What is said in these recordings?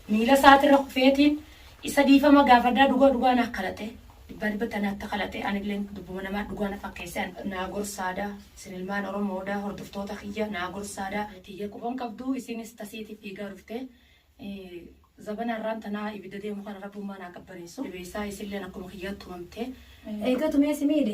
miila isaati irra kufeetiin isa dhiifama gaafadhaa dhugaa dhugaa naa kalaxee dhibbaa dhibbatti ana akka kalaxee anillee dubbuma namaa dhugaa na fakkeessee an- naa gorsaadaa isin ilmaan oromoodaa hordoftoota kiyya naa gorsaadaa tiyya quban qabduu isiinis tasiiti fiigaa dhuftee Eh, zabana irraan tanaa ibidda deemu kana rabbummaa naa qabbaneessu dhibeessaa isilleen akkuma kiyyaa tumamtee eega tumee si miidhe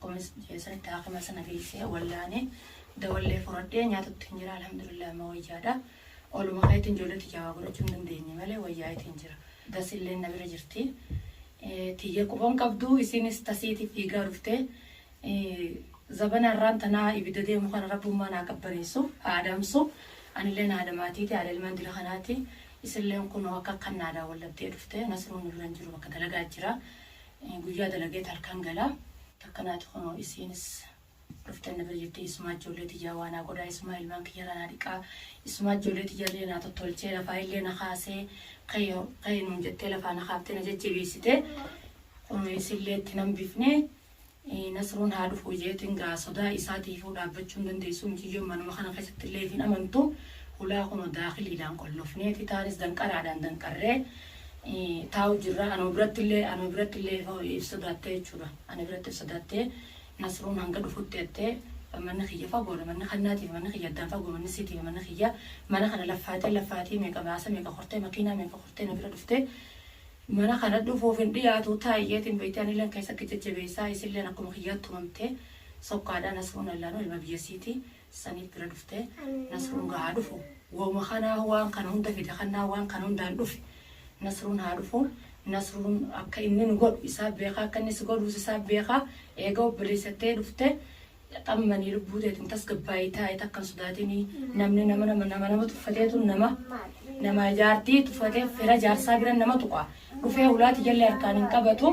Kunis jeesanitti haakima sana geessee wallaanee dawallee furadhee nyaatutti hin jira alhamdulillah amma wayyaadha. Oluma keetiin ijoollee tiyyaa waa godhachuu hin dandeenye malee wayyaayitiin jira. Dasilleen na bira jirti. Tiyya quba hin qabdu isiinis tasiiti fiigaa dhufte. Zabana har'aan tanaa ibidda deemu kana rabbummaa naa qabbaneessu haa adamsu. Anilleen haadha maatiiti haadha ilmaan dira kanaati. Isilleen kunoo akka akkan naa daawwallatee dhufte nasruun nu bira hin jiru bakka dalagaa jira. Guyyaa dalageet halkan gala. Takka naati kunoo isiinis dhufte na bira jirti. Isumaa ijoollee tiyyaa waa naa godhaa. Isumaa ilmaan kiyyarraa naa dhiqaa. Isumaa ijoollee tiyyallee naa tottolchee lafaayillee na kaasee ka'i ka'i nuun jettee lafaa na kaaftee na jajjabeessite. Kunoo isillee itti hin hambifne. Nasruun haa dhufu jeetiin gaa sodaa isaatiifuu dhaabbachuu hin dandeessu. Miciyyoon manuma kana keessattillee if hin amantu. Hulaa kunoo daakiliidhaan qollofneeti. Taanis danqaraadhaan danqarree taa'u jirra. Anuma birattillee anuma birattillee ifa if sodaattee jechuudha. Ana biratti if sodaattee Nasruun hanga dhufutti jettee manni kiyya fagoodha. Manni kannaatiif manni kiyya addaan fagoo manni siitiif manni kiyya mana kana laffaatee laffaatii meeqa baasa meeqa kortee makiinaa meeqa kortee na bira dhuftee mana kana dhufuuf hin dhiyaatu taa'i jeetiin beektee anilleen keessa kee jajjabeessaa isilleen akkuma kiyyaa tumamtee sokkaadhaa Nasruun Allaanuu ilma biyya siitii saniif bira dhuftee nasruun gaa haa dhufu wauma kanaahu waan kana hunda fide kannaa waan kana hundaan dhufe nasruun haa dhufu nasruun akka inni nu godhu isaa beekaa akka inni si godhuus isaa beekaa eega obboleessattee dhufte xammanii lubbuu teetiin tasgabbaa'ii taa'ee takkan sodaatinii namni nama nama nama nama tuffateetu nama nama jaartii tuffatee fira jaarsaa bira nama tuqa dhufee hulaati jallee harkaan hin qabatu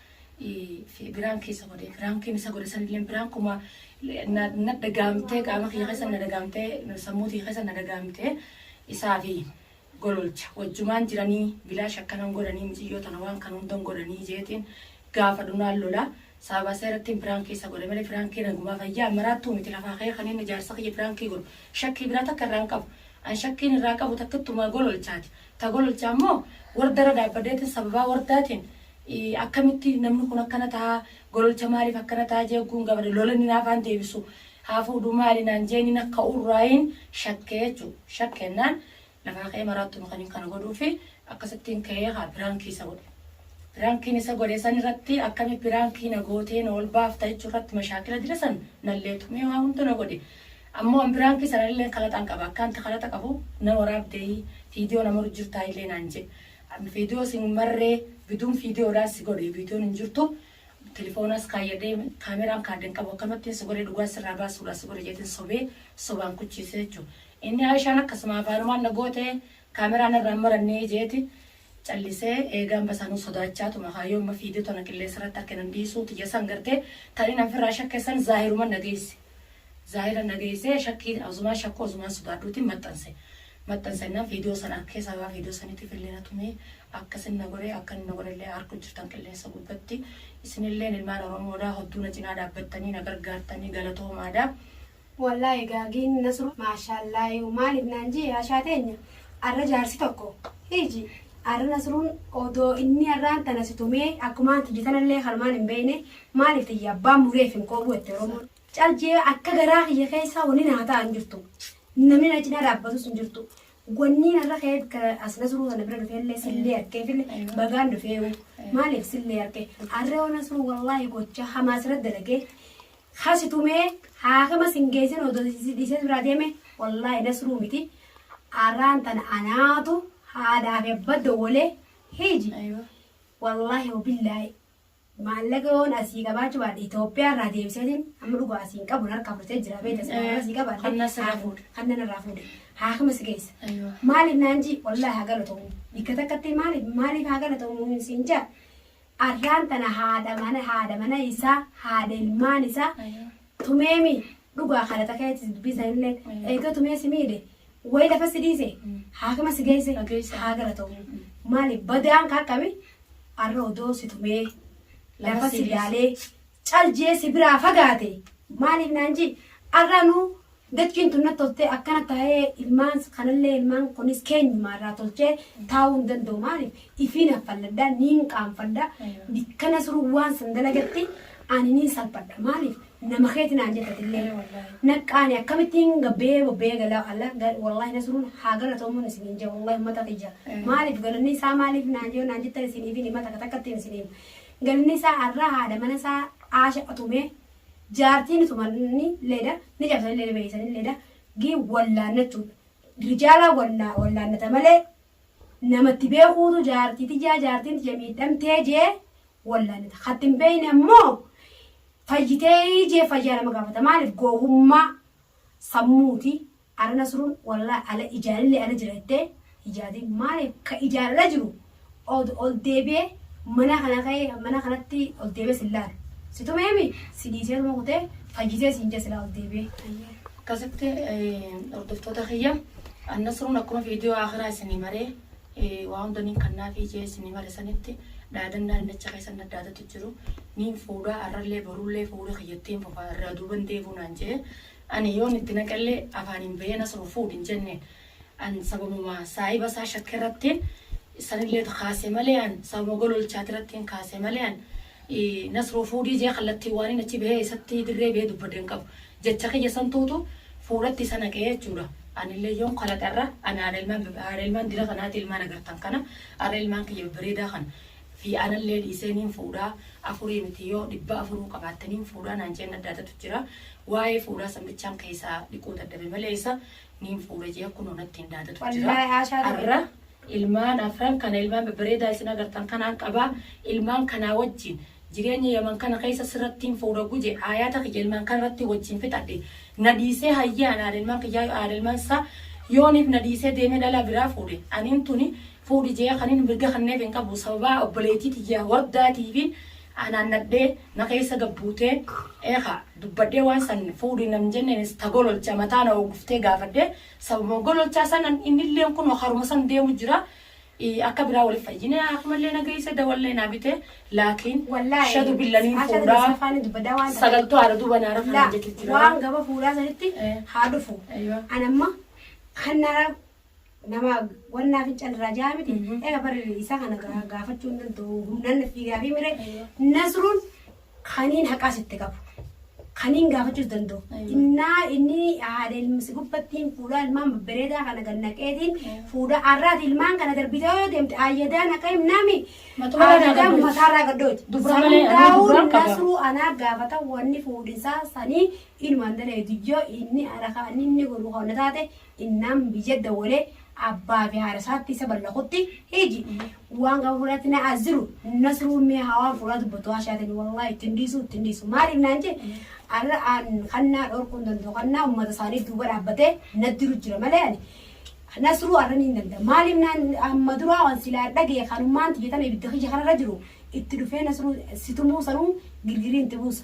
fi biraan keessa godhe biraan keessa isa godhe san illee biraan kuma na na dagaamtee qaama kiyya keessa na dagaamtee sammuu kiyya keessa na dagaamtee isaa fi gololcha wajjumaan jiranii bilaash akkanan godhanii miciyyoo tana waan kan hundan godhanii jeetiin gaafa dhunaan lola saabaa seerattiin biraan keessa godhe malee biraan kee nagumaa fayyaa maraattuu miti lafaa kee kan inni jaarsa kiyya biraan kee godhu shakkii biraa takka irraan qabu an shakkiin irraa qabu takkittumaa gololchaati ta gololchaa immoo warda irra dhaabbadeetiin sababaa wardaatiin Akkamitti namni kun akkana taha gololcha maaliif akkana taha jee ogguun gafadhe lola nin hafaan deebisu haa fuudhu maali naan jee nin akka urraayin shakke jechu shakke jennaan lafaa ka'ee maraattu nu kanin kana godhuufi akkasittiin ka'ee haa piraankii isa godhe piraankiin isa godhe san irratti akkami piraankii na gootee na ol baafta jechuu irratti mashaakila dira san nallee tumee waa hundu na godhe ammoo an piraankii sanallee kalaxaan qaba akkaanti kalaxa qabu na waraabdee fiidiyoo na maru jirtaa illee naan jee An video sin marre gidun video dhaan si godhe videon hin jirtu telefonas kaayyadhe camera card hin qabu akkamattin si godhe dhugaa sirraa baasuudhaaf si godhe jeetin sobee sobaan kuchiise jechu inni Aishaan akkasuma afaanumaan na goote camera narraa hin maranne jeeti callise eegaan basaanuu sodaachaatuma kaayyoo amma video tana qilleensarratti akka hin dhiisuu tiyya san garte kan inni ofirraa shakke san zaahiruman na geesse. Zaahira na geessee shakkii Azumaan shakkuu Azumaan sodaadhuutiin maxxanse. Maxxansennaan viidiyoo sana arkee sababaa viidiyoo saniitiif illee na tumee akka isin na godhe akka inni na godhe illee arku jirtan qilleensa gubbatti. Isin illeen ilmaan Oromoodhaa hodduu na cinaa dhaabbattanii na gargaartanii galatoomaadha. Wallaahi gaagiin nasru maashaallaayu maaliif naan jii haashaa teenya arra jaarsi tokko hiiji arra nasruun odoo inni arraan tana si tumee akkumaan tiyya tanallee kanumaan hin beeyne Maaliif tiyya abbaan mureef hin kooruu jette Oromoon. Cal jee akka garaa kiyya keessaa wani naa ta'a hin jirtu. Namni na cinaa dhaabbatus hin jirtu. Wanni narra ka'ee bikka as nasruu sana bira dhufee illee sillee arkeef illee bagaan dhufee uu. Maaliif sillee arke. Arree waan nasruu wallaahi gocha hamaa sirra dalagee hasi tumee haakama sin geessin odoo dhiisee biraa deeme wallaahi nasruu miti. Arraan tana anaatu haadhaa fi abba dowwalee hiiji. Aywa. Wallaahi wabillaahi. Maallaqa yoon asii qabaachuu baadhe Itoophiyaa irraa deebiseetiin amma dhugaa asii hin qabu harkaa fudhatee jira beekta silaa asii qabaadhe Kan na sirraa fuudhe. kan nan irraa fuudhe haakima si geessa Aywa. maaliif naan jii wallaahi haa galatomu bikka takkatti maaliif maaliif haa galatomu hin siin jaa arraan tana haadha mana haadha mana isaa haadha ilmaan isaa Aywa. Tumeemi dhugaa kana takeetis dubbii sanillee eegee tumee si miidhe wayi lafa si dhiise haakima si geesse haa galatoomu. Maali badaan ka akkami arra odoo si tumee lafa si laalee cal jee si biraa fagaate maaliif naan jii arra nuu Dachiin tun natti toltee akkana taa'ee ilmaan kanallee ilmaan kunis keenyuma irraa tolchee taa'uu hin danda'u maaliif ifiin haffalladha niin qaanfadha bikka nasruun waan san dalagatti ani niin salphadha maaliif nama keeti naan jettatillee naqqaani akkamittiin gabbee bobbee gala ala wallaahi nasruun haa galatoomuun isiniin jaa wallaahi ummata kiyya maaliif galanni isaa maaliif naan jee naan jettan isiniif hima takka takkattiin isiniif galanni isaa arraa haadha mana isaa aasha atumee jaartii ni tumani leeda ni cabsani leeda beeysani leeda gii wallaannachuudha rijaalaa wallaannata malee namatti beekuutu jaartii tiyyaa jaartiin tiyya miidhamtee jee wallaannata katti hin beeyne ammoo fayyitee jee fayyaa nama gaafata maaliif gowwummaa sammuuti Ara nasrun wallahi ala ijalile ala jira jette hijaadin maalif ka ijaan ala jiru od ol deebi'ee manaa kana ka'ee mana kanatti ol deebi'ee sin laalu si tumeemi si dhiiseetuma kutee fayyitee siin jee silaa ol deebi'ee. Akkasitti hordoftoota kiyya an nasrun akkuma viidiyoo akhiraa isinii maree waa hunda nin kannaafii jee isinii mare sanitti dhaadannaa inni achi keessa naddaadatu jiru nin fuudha arrallee borullee fuudha kiyyattiin fufa irraa duuban deebuu naan jee Ani yoon itti naqellee afaaniin bahee na soba fuudhi hin jenne. An sababuma saahiba isaa shakkerrattiin sanilleet kaase malee an sababuma gololchaatirrattiin kaase malee an Nasroo fuudhii jee kallattiin waanin achi bahee isatti dirree bahee dubbadhe hin qabu. Jecha kiyya santuutu fuudhatti isa naqe jechuudha. Anillee yoon kalaqa irra an haadha ilmaan haadha ilmaan dira kanaati ilmaan agartan kana har'a ilmaan kiyya babbareedaa kana fi anallee dhiisee niin fuudha, afurii miti yoo dhibba afuruu qabaatte niin fuudha naan jeen adda adatu jira. Waa'ee fuudhaa san bichaan keeysaa dhiquu dadhabe malee isa niin fuudha jee kunoo nattiin daadatu jira. Wallaahi haashaa dhabe. Arra ilmaan afran kana ilmaan babbareedaa isin agartan kanaan qaba. Ilmaan kanaa wajjiin jireenya yaman kana keeysa sirrattiin fuudha guje haayaata kiyya ilmaan kana irratti wajjiin fixadhe. Na dhiisee hayyaan haadha ilmaan kiyyaa haadha ilmaan isaa yooniif na dhiisee deemee dhalaa biraa fuudhe. Aniin tuni fuudhi je'ee kanin mirga kanneef hin qabu sababaa obboleeytii tiyya Wardaatifin anaan nadhee na keessa gad buutee ee ka dubbadhee waan san fuudhi nan jenneenis ta gololcha mataa na oogguftee gaafadhe sababuma gololchaa sanan innilleen kunoo karuma san deemu jira akka biraa wali fayyine haakimallee na geeyse dawallee naa bite laakiin Wallaahi shadu billa nin maasha fuudha Isa faana dubbadaa waan ta'eef. sagaltuu haadha duuba naara kana Laa jette jira waan gaba fuudhaa sanitti Eh. haa dhufu. Aywa. An amma kan naara Nama wan naa fincan irraa ja'a miti. Ega bar isa kana ga- gaafachuu hin danda'u. Humnaan na fiigaa fi mire Nasruun kaniin haqaa sitti qabu. Kaniin gaafachuus danda'u. Aywa. Innaa inni haadha ilma si gubbattiin fuudhaa ilmaan babbareedaa kana gannaqeetiin fuudha arraati ilmaan kana darbitee yoo deemte ayyadaan akka himnaami. Matuma irraa Ayyadaan gaddooti. mataa irraa gaddooti. Dubra San malee, amma hundaa'uu dubraan qaba. Nasruu anaa gaafata wanni fuudhinsaa sanii inumaan daleedu yoo inni haadha kaan inni godhu kana taate Innaan biyya dawwalee abbaa fi haadha isaatti isa ballaqutti hiji waan gaafa fuudhaatti na as jiru nasruun mee haa waan fuudhaa dubbatu haa shaatanii wallaahi ittiin dhiisuu ittiin dhiisu maaliif naan jee arra aan kannaa dhorkuun danda'u kannaa uummata isaanii duuba dhaabbatee na diru jira malee ani nasruu arra ni danda'a maaliif naan amma duraa waan silaa dhagee kanummaan xiyyeetame ibidda kiyya kanarra jiru itti dhufee nasruu situmuu sanuu girgirii itti buusa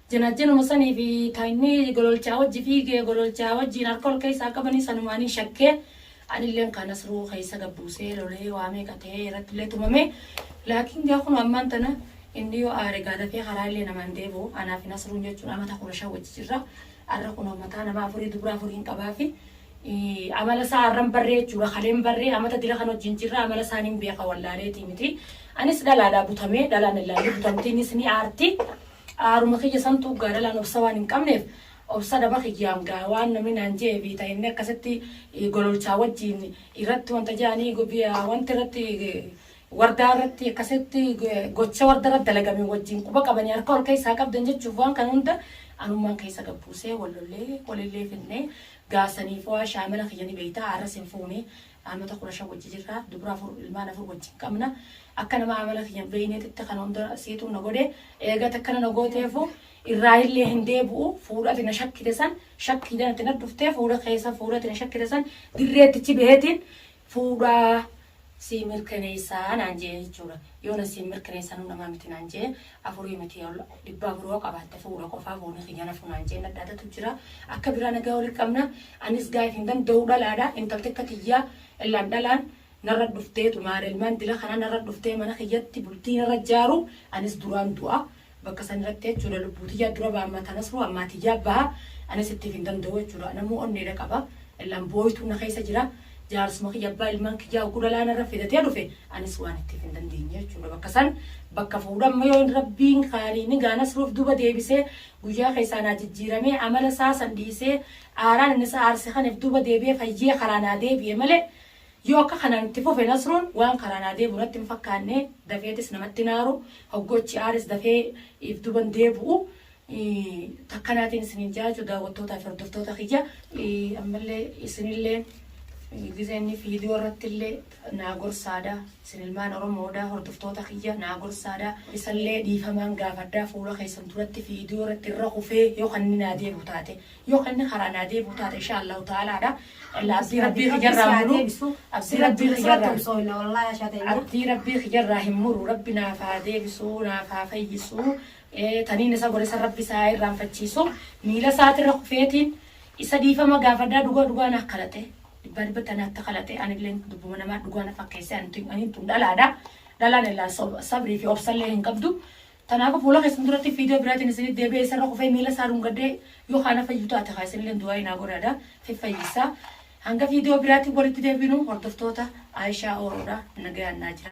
Janajjanuma sanii fi ka inni gololchaa wajji fiige, gololchaa wajjiin harka ol keessaa qabanii sanumaaniin shakkee anilleen kaa Nasruu keessa gad buusee lolee waa meeqa ta'ee irrattillee tumame. Laakiin gaa kunoo ammaan tana inni yoo aare gaa dafee karaa illee namaa hin deebi'u. Anaa fi Nasruun jechuun amata kudha shan wajji jirra. Arra kunoo mataa nama afurii dubra afuriin qabaa fi amala isaa arran barree jechuudha kaleen barree amata dila kan wajjin jirra amala isaa nin beeka wallaaleetii miti. Anis dhalaadhaa butamee dhalaan illaallee butamtiinis ni aarti. Qaaruma kiyya santuu gaaralaan obsa waan hin qabneef obsa dhaba kiyyaam gaa waan namni naan je'e biita hennee akkasitti gololchaa wajjiin irratti wanta je'anii wanti irratti wardaa irratti akkasitti gocha warda irratti dalagame wajjiin quba qabanii harka ol keessaa qabdan jechuuf waan kan hunda anummaan keessa gabbuusee wallollee walillee finnee gaasaniif waa shaamala kiyya ni beeyta har'as hin fuune Aamata kudha shan wajji jirra. Dubra afur ilmaan afur wajjin qabna. Akka nama amala kiyya hin beeyneetitti kana hunda siitu na godhe. Eega takkana na gooteefu irraayillee hin deebu'u. Fuudha ati na shakkite san shakkiidhan ati na dhuftee fuudha keessa fuudha ati na shakkite san dirreetti ichi baheetiin fuudha sii mirkaneessa naan je'e jechuudha. Yoona siin mirkaneessanuu namaa miti naan je'e. afurii miti ol dhibbaa afur hoo qabaatte fuudha qofaa foonii kiyya na funaan jeen dhadhaatatu jira akka biraa nagaa wali qabna anis gaa'if hin danda'u dhalaadha intalti akka tiyyaa illaan dhalaan narra dhuftee tumaara ilmaan dila kana narra dhuftee mana kiyyatti bultii narra jaaru anis duraan du'a bakka san irratti jechuudha lubbuu tiyyaa dura ba'amma tanas hoo ammaa tiyyaa ba'a anis ittiif hin danda'u jechuudha namuu onneedha qaba Illan booytu na keessa jira. Jaarsuma kiyya abbaa ilmaan kiyyaa oggu dhalaa narra fidatee dhufe anis waan ittiif hin dandeenye jechuudha. Bakka san bakka fuudha amma yoo rabbiin kaaniin gaa nasruuf duuba deebisee guyyaa keessaa naa jijjiiramee amala isaa san dhiisee aaraan inni isa aarse kaniif duuba deebi'ee fayyee karaa naa deebi'e malee yoo akka kanaan itti fufe nasruun waan karaa naa deebi'u natti hin fakkaanne dafeetis namatti hin aaru hoggu achi aares dafee if duuban deebi'u Takkanaatiin isiniin jaa jechuu daawwattootaa fi hordoftoota kiyya. Ammallee isinillee gizee inni viidiyoo irratti illee naa gorsaadha. Isin ilmaan Oromoodha hordoftoota kiyya naa gorsaadha. Isallee dhiifamaan gaafadha fuula keessan duratti viidiyoo irratti irra kufee yoo kan inni naa deebi'u taate yoo kan inni karaa naa deebi'u taate insha Allahu ta'alaadha. Abdii rabbii kiyyarraa hin muru. Abdii rabbii kiyyarraa abdii rabbii kiyyarraa hin muru. Rabbi naaf haa deebisu naaf haa fayyisu. Taniin isa gore san Rabbi isa haa irraanfachiisu. Miila isaati irra kufeetiin isa dhiifama gaafadhaa dhugaa dhugaa naa kalate. Dhibbaa dhibbatti ana atta kalate anilleen dubbuma namaa dhugaa na fakkeesse antu anin tun dhalaadha. Dhalaan illaan sob- sabrii fi obsallee hin qabdu. Tanaafu fuula keessan duratti fiidiyoo biraatiin isinit deebi'ee isarra kufee miila isaa dhungadhee yoo kaana fayyu taate haa isinilleen du'aa'ii naa godhaadha fiffayyissaa. Hanga fiidiyoo biraatiin walitti deebinu hordoftoota Aayishaa Ooroodha nagayaan naa jira.